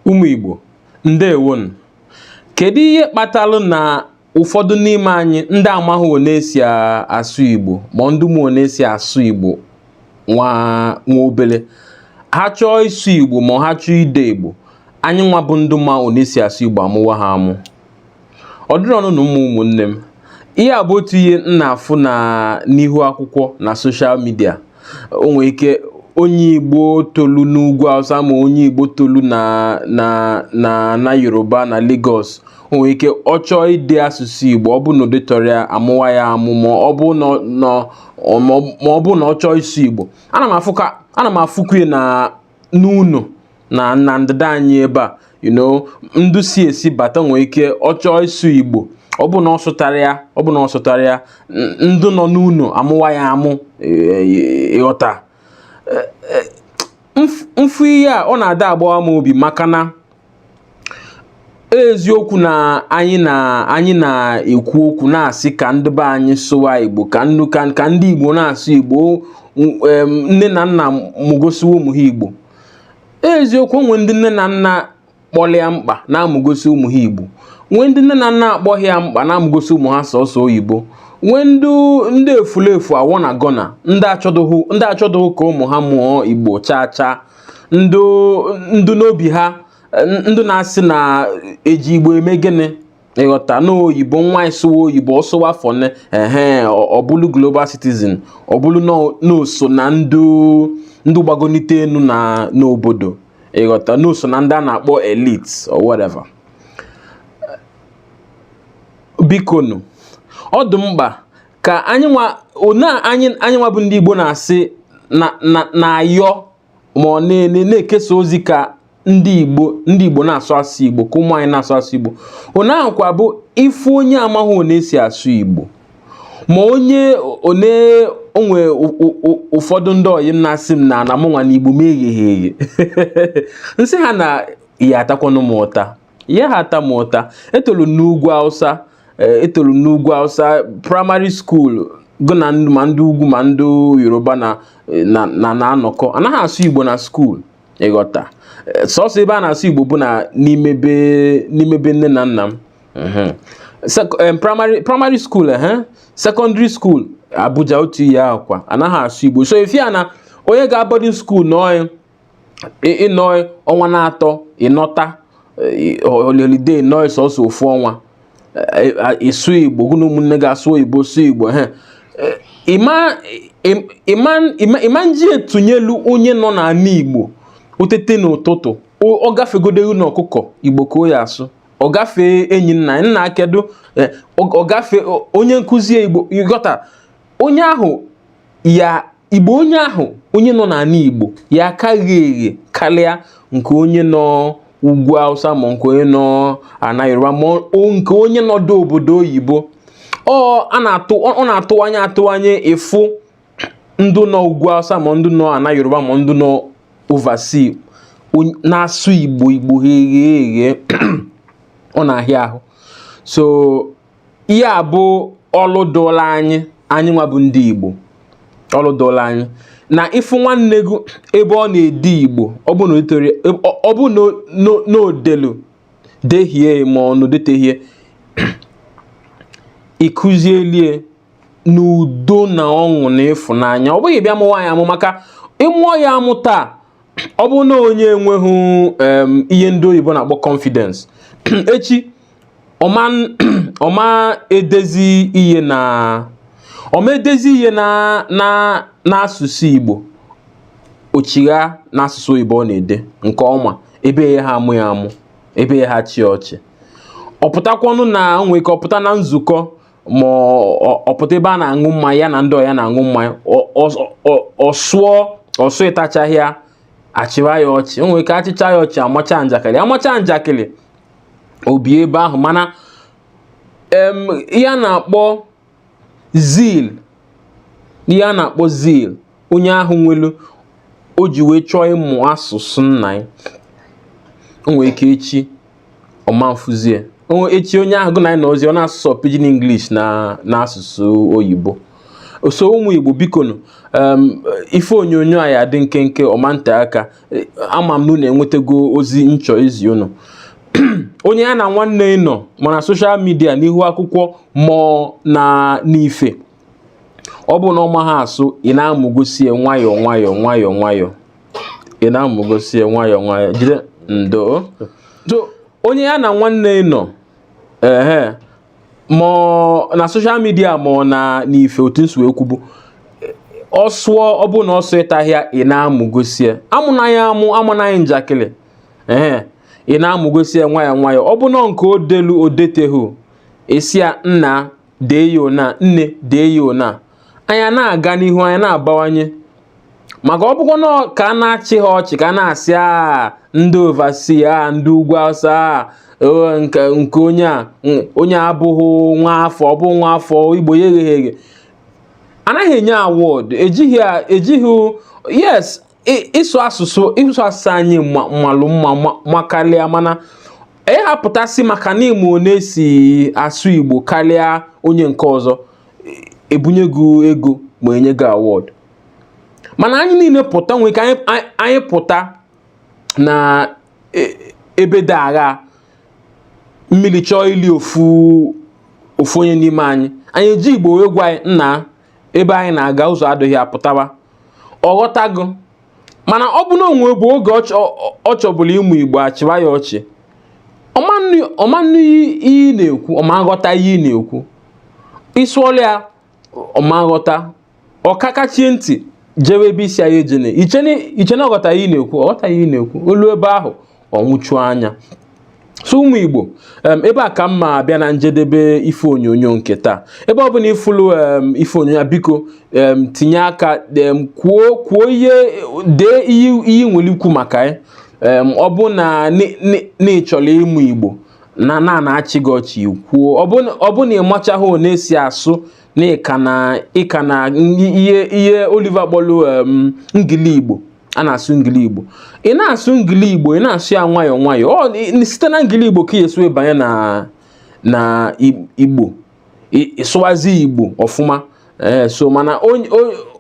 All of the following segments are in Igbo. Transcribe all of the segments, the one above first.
Ụmụ Igbo, ndewonu. Kedu ihe kpatalụ na ụfọdụ n'ime anyị ndị amaghị one esi asụ Igbo ma ndị ma one esi asụ Igbo nwa nwa obele ha chọọ ịsụ Igbo ma ha chọọ ide Igbo anyị nwa bụ ndị ma one esi asụ Igbo amụwa ha amụ ọ dịrọnụ mma ụmụ ụmụnne m ihe a bụ otu ihe m na-afụ na n'ihu akwụkwọ na soshal midia o nwere ike onye igbo tolu n'ugwu awụsa ma onye igbo tolu na na na na yoruba na Lagos o nwere ike ọ chọọ ide asụsụ igbo ọ bụ na o detarọ ya amụwa ya amụ ma ọ bụ na ọ chọọ ịsụ igbo ana m afụkwa na n'ụnọ na na ndịda anyị ebe a you know ndụ si ezi bata nwee ike ọ chọọ ịsụ igbo ọ bụ na ọ sụtarọ ya ọ bụ na ọ sụtarọ ya n- ndụ nọ n'ụnọ amụwa ya amụ eh, ịghọta Eh, eh, mf- m fụ ihe a ọ na-adị agbawa m obi maka na eziokwu na anyị na anyị na-ekwu okwu na-asị ka ndị be anyị sụwa igbo ka nnu ka ndị igbo na-asụ igbo nne na nna mụgosiwe ụmụ ha igbo eziokwu nwee ndị nne na nna kpọlụ ya mkpa na-amụgosi ụmụ ha igbo nwee ndị nne na nna akpọghị ya mkpa na-amụgosi ụmụ ha sọsọ oyibo nwee ndị efulefu I wanna gonna ndị achọdụghị ka ụmụ ha mụọ igbo chaa chaa ndụ ndụ n'obi ha ndụ na-asị na eji igbo eme gịnị ịghọta na oyibo nwa ị sụwa oyibo ọ sụwa fọne ehe ọ bụlụ global citizen ọ bụlụ na o so na ndụ ndụ gbagonite enu na n'obodo ịghọta na o so na ndị a na-akpọ elite or whatever bikonu ọ dị mkpa ka anyị nwa one anyị anyị nwa bụ ndị Igbo na-asị na na na-ayọ ma ọ na-ele na-ekesa ozi ka ndị Igbo ndị Igbo na-asụ asụ Igbo ka ụmụ anyị na-asụ asụ Igbo one ahụ kwa bụ ị fụ onye amaghị one esi asụ Igbo ma onye one o nwe ụfọdụ ndị ọyị m na-asị m na na mụnwa na Igbo m egheghị eghe m sị ha na ya atakwanụ m ụta ya ha ata m ụta etolu n'ugwu Hausa Eh, etolu m n'ugwu Hausa praịmarị skuul gụ na ndị ma ndị ugwu ma ndị yoruba na eh, na na- na-anọkọ anaghị asụ igbo na skuul ịghọta Eh, sọsọ ebe a na-asụ igbo bụ na n'ime be n'ime be nne na nna m Mhm. Sek- em, praịmarị praịmarị skuul ehe sekọndịrị skuul abuja otu ihe ahụ kwa anaghị asụ igbo so efi a na onye gaa bọdin skuul na onye ị nọ ọnwa na-atọ ị nọta holiday nọ sọsọ ofu ọnwa ịsụ igbo gụ na ụmụnne gị asụ oyibo sụ igbo ha ị ma nji etunyelu onye nọ n'ala igbo o tete n'ụtụtụ ọ gafegodeghị na ọkụkọ igbo ka ọ ya-asụ ọ gafee enyi nna nna kedu ọ gafee onye nkụzi igbo ị ghọta onye ahụ ya igbo onye ahụ onye nọ n'ala igbo ya-aka ghe eghe karịa nke onye nọ ugwu awụsa ma nke onye nọ ana yoruba ma nke onye nọdụ obodo oyibo ọ na-atụwanye atụwanye ịfụ ndị nọ ugwu awụsa ma ndị nọ ana yoruba ma ndị nọ overseas na-asụ igbo igbo eghe eghe ọ na-ahịa ahụ so ihe a bụ ọlụ dụlụ anyị anyị nwa bụ ndị Igbo ọlụ dụlụ anyị na ị fụ nwanne gị ebe ọ na-ede Igbo ọ bụ na o delu dehie ma ọ na o detehi ya ị kụzielu ya n'udo na ọṅụ na ịfụnanya ọ bụghị bịa mụwa ya amụ maka ị mụọ ya amụ taa ọ bụ na onye enweghị ihe ndị oyibo na-akpọ confidence echi ọ ma ọ ma-edezi ihe na ọ ma-edezi ihe na na n'asụsụ Igbo o chigha n'asụsụ oyibo ọ na-ede nke ọma ebe a yaha amụ ya amụ ebe a yaha achị ya ọchị ọ pụtakwanụ na o nwere ike ọ pụta na nzukọ ma ọ pụta ebe a na-aṅụ mmanya ya na ndị ọyị ya na-aṅụ mmanya ọ sụọ ọ sụtachahị ya a chịwa ya ọchị o nwere ike a chịcha ya ọchị a macha njakịrị a macha njakịrị o bie ebe ahụ mana ihe a na-akpọ zeal ihe a na-akpọ zeal onye ahụ nwelu o ji wee chọọ ịmụ asụsụ nna ya o nwere ike echi ọ ma nfụzi ya echi onye ahụ gụ na ya nọzi ọ na-asụ sọ pidgin English na asụsụ oyibo so ụmụ Igbo bikonu ife onyonyo a ya-adị nkenke ọ ma nte aka ama m na unu enwetago ozi m chọ izi unu onye ya na nwanne ya nọ ma na social media n'ihu akwụkwọ ma ọ na n'ife ọ bụ na ọ maha asụ ị na-amụgosi ya nwayọọ nwayọọ nwayọọ nwayọọ ị na-amụgosi ya nwayọọ nwayọọ jide ndo so onye ya na nwanne ya nọ ehe ma na social media ma na n'ife otu m si wee kwubu ọ sụọ ọ bụ na ọ sụtahị ya ị na-amụgosi ya amụna ya amụ amana ya njakịrị ee ị na-amụgosi ya nwayọọ nwayọọ ọ bụ na nke o delu o detehu ị sị ya nna dee ya ona nne dee ya ona anyị ana-aga n'ihu anyị ana-abawanye maka ọ bụkwa na ka a na-achị ha ọchị ka a na-asị a ah, ndị overseas a ah, ndị ugwu awụsa a ah, oh, nke onye a onye abụghị nwa afọ ọ bụ nwa afọ igbo ya egheghị eghe anaghị enye award ejighị yes ịsụ asụsụ ịsụ asụsụ anyị malụ mma makalịa mana ịhapụta sị maka na ị ma ọ na-esi asụ Igbo kalịa onye nke ọzọ e bunye gị ego ma nye gị award mana anyị niine pụta nwee ka anyị pụta na e, ebe dị agha mmili chọọ ili ofu ofu onye n'ime anyị anyị eji igbo wee gwa ya nna ebe ahụ ị na-aga ụzọ adịghị pụtawa ọ ghọtago mana ọ bụ na o nwebu oge ọ chọbụla ịmụ igbo a chịwa ya ọchị ọ ma nụ ihe ị na-ekwu ọ ma aghọta ihe ị na-ekwu ị sụọla ya ọ ma aghọta ọ kakachie ntị jewe ebe ị sị ya ejene i che na ọ ghọta ihe ị na-ekwu ọ ghọta ihe ị na-ekwu o luo ebe ahụ ọ nwụchuo anya so ụmụ igbo ebe a ka m ma abịa na njedebe ife onyonyo nke taa ebe ọ bụna ị fulu ife onyonyo biko tinye aka kwuo kwuo ihe dee ihe i nwelu ikwu maka ya ọ bụ na ị chọlọ ịmụ igbo na a na-achị gị ọchị kwuo ọ bụ na ị machaghị ọ na-esi asụ na ị ka na ihe Oliver kpọlụ ngili igbo a na-asụ ngili igbo ị na-asụ ngili igbo ị na-asụ ya nwayọọ nwayọọ site na ngili igbo ka ị ya-esi banye na na igbo ị sụwazie igbo ọfụma ee eh, so mana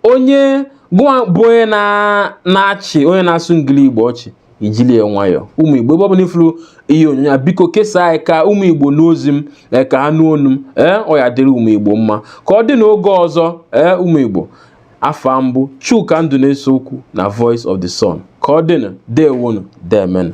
onye gụwa bụ onye na-achị onye na-asụ ngili igbo ọchị i jili ya nwayọọ ụmụ igbo ebe ọ bụla ị fulu ihe onyonyo a biko kesaa ya ka ụmụ igbo nụ ozi m eh, ka ha nụ onu m ee eh, ọ ya-adịrị ụmụ igbo mma ka ọ dị n'oge ọzọ ee ụmụ igbo afa m bụ Chuka Nduneseokwu na Voice of the Sun ka ọ dịnụ deewonụ deemenụ